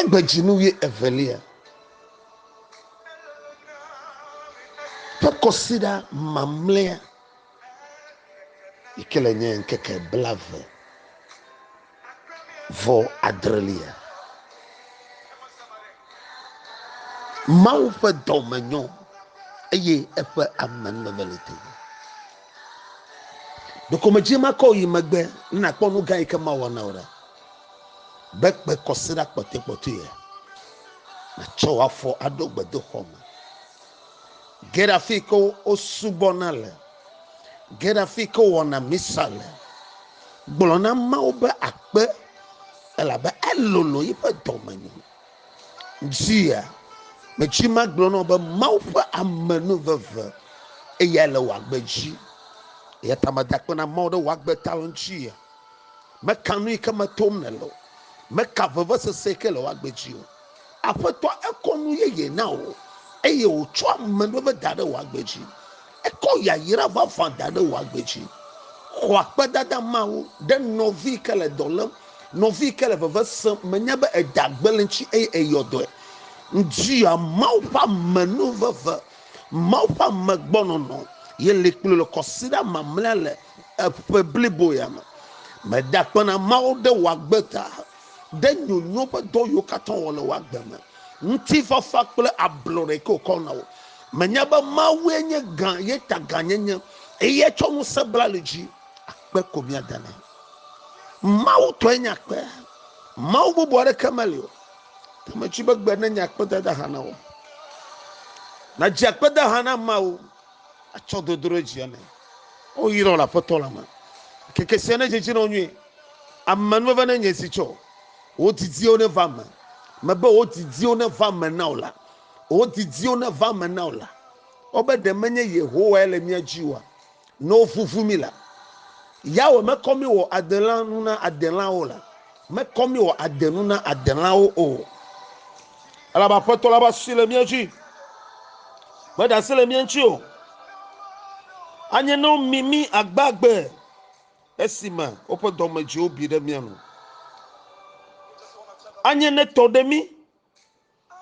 Egbe dzi nu ɣie evelia ƒe kɔsiɖa mamlɛa yi ke le nye ŋkeke blave vɔ adrelia. Mawu ƒe dɔ me nyɔ eye eƒe ame nɔnɔ le te. Ɖokomedzi makɔ yi megbe ne nàkpɔ nu gã yi ke mawɔ na wò ɖa, be kpe kɔsiɖa kpɔtɔekpɔtɔea nàtsɔ wò afɔ aɖo gbedoxɔ me. Ge ɖe afi ke wosubɔna le, ge ɖe afi ke wowɔna misa le. Gblɔ na Mawu be akpe, elabe elolo yiƒe dɔmenyo. Dzia, metsi magblɔ nɔ be Mawu ƒe ame nu veve eya le wòagbe dzi. Eya ta meda akpe na Mawu ɖe wòagbe ta le ŋuti ya. Meka nu yi ke metom ne le o. Meka vevesese yi ke le wòagbe dzi o. Aƒetɔ ekɔ nu yeye na wò eye wòtsɔ ame nu veve da ɖe wòagbe dzi. Ekɔ yayra vavã da ɖe wò agbe dzi. Xɔ akpedada mawo ɖe nɔvi yi ke le dɔ lém, nɔvi yi ke le veve sem. Menye be ède agbe le eŋuti eye èyɔ dɔe. Ŋutia, Mawu ƒe ame nu veve, Mawu ƒe ame gbɔ nɔnɔ ye li kplii le kɔsiɖa mamlɛa le ƒe blibo ya me. Mede akpe na Mawu ɖe wò agbe ta, ɖe nyonyo ƒe dɔ yiwo katã wòwɔ le wò agbe me, ŋutifafa kple ablɔɖe yi ke wòkɔ na wò. Menya be Mawue nye gã, ye ta gã nye nye, eye etsɔ ŋusẽ bla li dzi, akpe ko míada nɛ. Mawu tɔe nye akpe, Mawu bubu aɖeke meli o. Ke metsi be gbe nenye akpedada hã na wo. Nadzi akpeda hã na ameawo, atsɔ dodo ɖe dzi ene. O yrɔ le Aƒetɔ la me. Ŋkeke sia nedzedze na wo nyuie. Amenuveve nenye zi tsɔ. Wò didiwo neva eme. Mebe wò didiwo neva eme na wò la. wò didiwo neva eme na wò la, wobe ɖe menye Yehowae le mía dzi oa? Ne wovuvu mí la, Yahweh mekɔ mí wɔ adelã nu na adelãwo la, mekɔ mí wɔ ade nu na adelãwo o. Elabe Aƒetɔ la ƒe asi le mía dzi, meɖe asi le mía ŋuti o. Anye ne womi mí agbagbe esime woƒe dɔmedzoewo bi ɖe mía nu. Anye ne tɔ ɖe mí.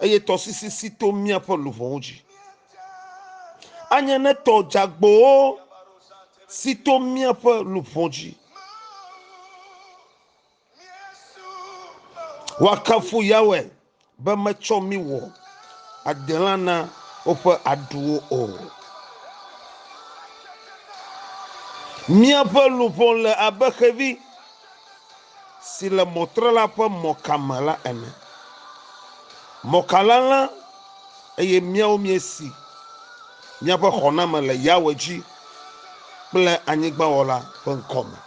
Eye tɔsisi si to míaƒe luʋɔwo dzi. Anye ne tɔ dzeagbowo si to míaƒe luʋɔ dzi. Woakafu Yahweh be metsɔ mí wɔ adelã na woƒe aɖuwo o. Míaƒe luʋɔ le abe xevi. si le mɔtrela ƒe mɔka me la ene. Mɔka la lã, eye míawo míesi míaƒe xɔname le Yahweh dzi kple anyigbawɔla ƒe ŋkɔ me.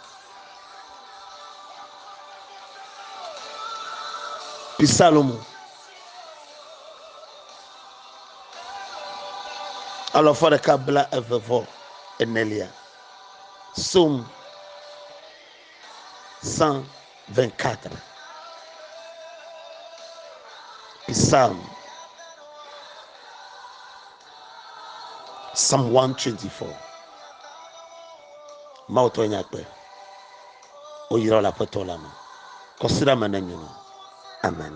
Psalmo alafa ɖeka bla eve vɔ enelia. Psalm 124. Psalm Psalm 124. Mawu tɔ nya kpe. Woyra le aƒetɔ la me. Kɔsiɖa me ne nyɔnu. Amen.